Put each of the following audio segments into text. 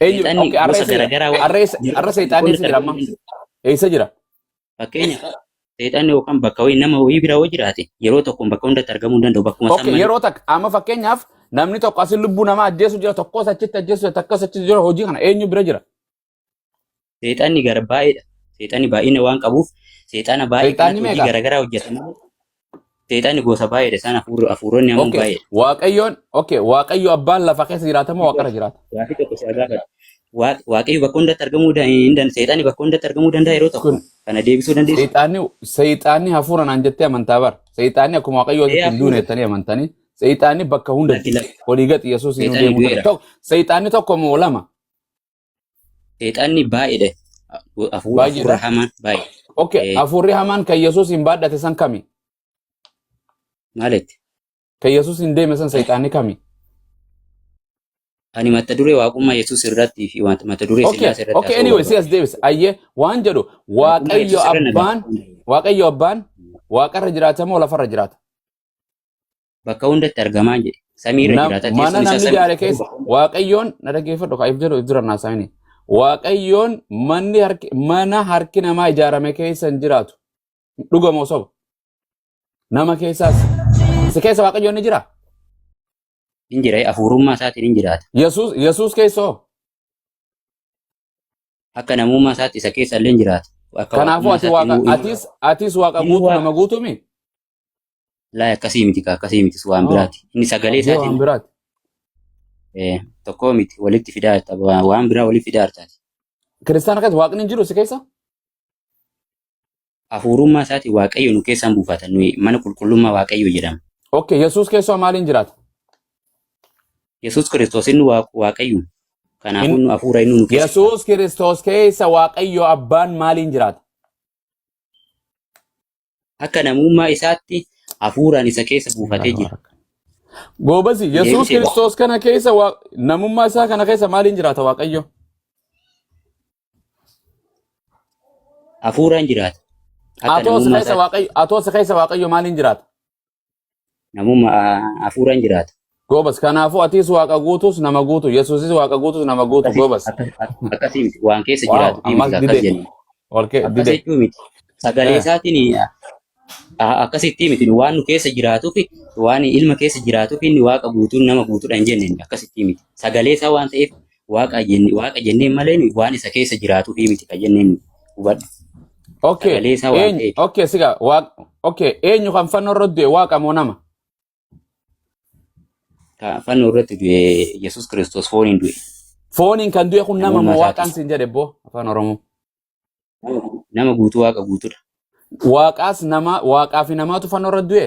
Eenyu Seexanni okay, har'a gosa eessa jira? garaagaraa waan Har'a eessa har'a jiraachuuf seexaanni qonna eessa jira amma? tarbiyyuu danda'u. Eessa jira? Fakkeenya seexanni yookaan bakka wayii nama wayii bira yoo jiraate yeroo tokkoon bakka hundatti argamuu hin danda'u bakkuma san Okay, malee. yeroo takka amma fakkeenyaaf namni tokko asin lubbuu namaa ajjeesu jira tokkos achitti ajjeesu jira takkas achitti jira hojii kana eenyu bira jira? Seexanni gara baay'eedha. Seexanni baay'ina waan qabuuf seexana baay'ee Seexanni kanatti hojii meeqa? garaagaraa hojjeta malee seexanni gosa baay'eedha. Isaan hafuurri hafuuronni ammoo Okay. baay'eedha. Waaqayyoon okay. Waaqayyo abbaan lafa keessa jiraata moo waaqarra jiraata? Gaafii tokko si gaafadha. Waa- Waaqayyo bakka hundatti argamuu da- hin dan- seexanni bakka hundatti argamuu danda'a yeroo tokko Kun kana deebisuu dandeessu. seexaanni seexaanni hafuura naan jettee amantaa bar. Seexaanni akkuma waaqayyoo Ee asitti hin duune hafuura jettanii amantanii seexaanni bakka hundatti lakki lakki olii gadi Yesuus hin seexanni deemuu du'eera. tokko seexaanni tokko moo lama? Seexanni baay'eedha. Hafuura hafuura Baay'eedha. hamaan baay'ee. Okay, Eh. hafuurri hamaan kan Yesuus hin baadhate san kami? Maalitti? Kan Yesuus hin deeme san seexaanni kami? Ani mata duree waaqummaa Yesuus irratti fi wanta- mata duree Okay, Sillaasee irratti okay, haasa'uu anyway, si barbaada. as deebisa. Ayyee, waan jedhu Waaqummaa Waaqayyo Yesuus irra na Abbaan, barbaada. Waaqayyo Abbaan waaqarra jiraata moo lafarra jiraata? bakka hundatti argamaa jedhe samii irra Na- jiraata mana teessoon isaa namni samii ijaare keessa bakka hundatti waaqayyoon na dhaggeeffadhu ka if jedhu if dura naasaayini waaqayyoon manni harki mana harki namaa ijaarame keessa hin jiraatu dhuga moo soba nama keessaas si keessa waaqayyoon ni jira hin jira hafuurummaa isaatiin hin jiraata yesuus yesuus keessoo akka namummaa isaatti isa keessa illee hin jiraata akka kanaafuu waaqummaa ati isaatti waaqa immoo atis atis waaqa inni guutu waaqa nama guutuumi Laa akkasii miti kaa akkasii miti sun waan Haa. biraati. Inni sagalee Abdii waan isaatiin biraati. eh, tokkoo miti walitti fidaa jirta. Waa- Waan biraa walitti fidaa jirtaati. Kiristaana keessa waaqni hin jiru si keessa? Hafuurummaa isaatiin waaqayyo nu keessaan buufata. Nuyi mana qulqullummaa waaqayyo jedhama. Okay, Yesuus keessaa maaliin jiraata? Yesuus Kiristoos inni Waaq- waaqayyo. Kanaafuu Hin- nu hafuura inni nu keessa. Yesuus Kiristoos keessa Waaqayyo Abbaan maaliin jiraata? Akka namummaa isaatti hafuuraan isa keessa buufatee jira. Goobazi, Yesuus Deebisee ba'a. Kiristoos kana keessa waa- namummaa isaa kana keessa maaliin jiraata Waaqayyo? Hafuuraan jiraata. Akka Atoo si namummaa keessa isaatti. Waaqayyo, atoo si keessa Waaqayyo maaliin jiraata? Namuma hafuuraan jiraata. Goobas kanaafuu atis waaqa guutus nama guutu yesuusis waaqa guutus nama guutu Akkasi goobas. akkas- ak- akkasii miti waan keessa Waaw jiraatu fi ammas miti akkas dide jennu. olke Akkas dide. jechuu miti. Sagalee Eh. isaatiin a- akkasitti miti nu waan nu keessa jiraatuu fi waan ilma keessa jiraatuu fi inni waaqa guutuun nama guutuudha hin jenne inni akkasitti miti. Sagalee isaa waan ta'eef Waaqa jenne- waaqa jenneen malee nuyi waan isa keessa jiraatu fi miti kan jenneen nuyi. hubadhu. Okay. Sagalee isaa waan Eenyu ta'eef. okay siga waaq okay eenyu kan fannoo irra du'e waaqa moo nama? Ka fannoo irratti du'e Yesuus Kiristoos fooniin du'e. Fooniin kan du'e kun nama Namummaa moo waaqaan isaatis. siin jedhe boo afaan Oromoo. Nama guutuu waaqa guutuudha. Waaqaas nama waaqaa fi namaatu fannoo irra du'e.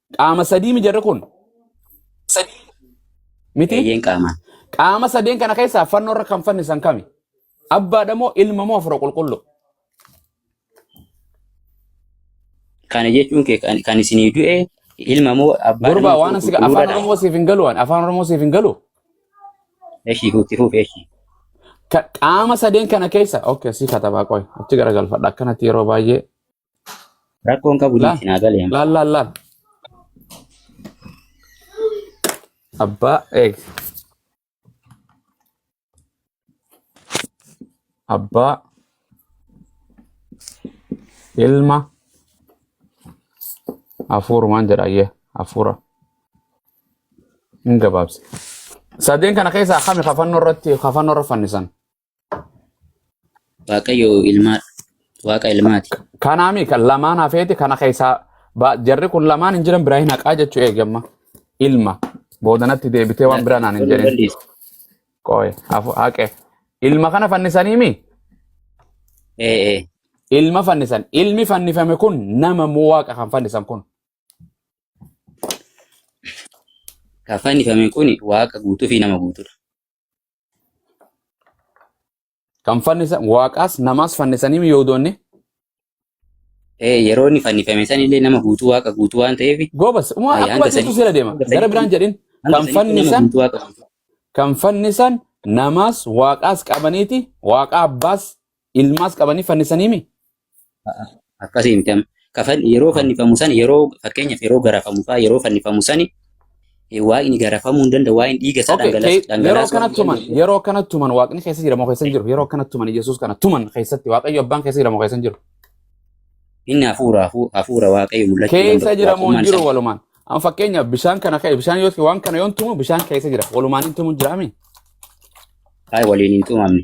Qaama sadii mi jarri kun? Miti? Eeyyeen qaamaan. Qaama sadeen kana keessaa fannoo irra kan fannisan kami? Abbaadha moo ilma moo hafuura qulqulluu? Kana jechuun kee kan kan isinii du'e ilma moo abbaa Gurbaa nama waan fuudhu asii afaan qulqulluudhaadha. Oromoo siif hin galu waan afaan Oromoo siif hin galu. Eshi huutti fuuf eshi. Ka- Qaama sadeen kana keessa okay sii katabaa qoy achi garagalfadha akkanatti yeroo baay'ee Rakkoon qabu Laal, dinqinaa galee. laal, laal, laal. Abbaa eeg. Abbaa ilma hafuurumaan jedha ayyee hafuura hin gabaabse. Sadeen kana keessaa kami kafannoo irratti kafannoo irra fannisan? Waaqayyo ilmaa waaqa ilmaati. Kanaami kan lamaan hafeeti kana keessaa ba- jarri kun lamaan hin jiran biraa hin haqaa jechuu eegamma. Ilma boodanatti deebitee waan biraa naan hin Kun jedhin. balleessa. Qooye hafu haqe. Ilma kana fannisanii mi? Ee ee. Ilma fannisan. Ilmi fannifame kun nama moo waaqa kan fannisan kun? Kan fannifame kun waaqa guutuu fi nama guutuudha. Kan fannisa waaqaas namaas fannisanii mi'oodoonni Eh, yeroo inni fannifame san illee nama guutuu waaqa guutuu waan ta'eef goobas uma eh, akkuma hanga jirtu sanii seera deema hanga gara sanii biraan jedhin hanga kan sanii nama fannisan guutuu waaqa guutuu. kan fannisan namaas waaqaas qabaniiti waaqaa abbaas ilmaas qabanii fannisaniimi Akkasii miti amma. Ka fan- Yeroo fannifamu sana yeroo fakkeenyaaf yeroo garafamu fa'aa yeroo fannifamu sani eh, waaqni garafamuu hin danda'u waa'een dhiiga isaa Okay, dhangalaas- kee- yeroo dhangalaasuu kana hin tuman, danda'u. yeroo kana tuman waaqni keessa jira moo keessa hin jiru? Yeroo kana tuman Yesuus kana tuman keessatti waaqayyo abbaan keessa jira moo keessa hin jiru? Inni hafuura hafu- hafuura waaqayyo mul'achuu Keessa danda'u. jira moo hin Waaqummaan jiru isaa walumaan? Amma fakkeenyaaf bishaan kana ka'e bishaan yoo waan kana yoon tumu bishaan keessa jira walumaan hin tumu jiraami? baay'ee waliin hin tumamne.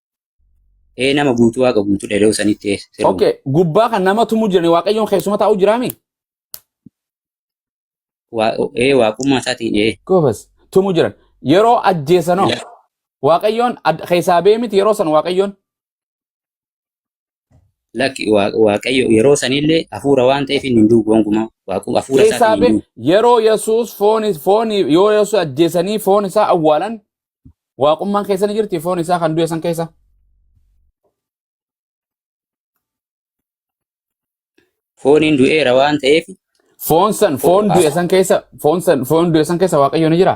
Ee nama guutuu waaqa guutuu dheedoo sanitti ee sirba. Okay, gubbaa kan nama tumuu jirani waaqayyoon keessuma taa'u jiraami? Waa- Ee waaqummaa isaatiin ee. Goobas, tumuu jiran. Yeroo ajjeesanoo Ila- waaqayyoon ad- keessaa ba'ee miti yeroo san waaqayyoon Lakki Waa- Waaqayyo yeroo sanillee hafuura waan ta'eef inni hin du'u gonkumaa. Waaqu hafuura isaatiin Keessaa hin bee du'u. yeroo Yesuus foon foon yoo Yesuus ajjeesanii foon isaa awwaalan waaqummaan keessa ni jirti foon isaa kan du'e san keessa. Fooniin du'eera waan ta'eef Foon san fo- foon du'e hafu- san keessa foon san foon du'e san keessa waaqayyo ni jira.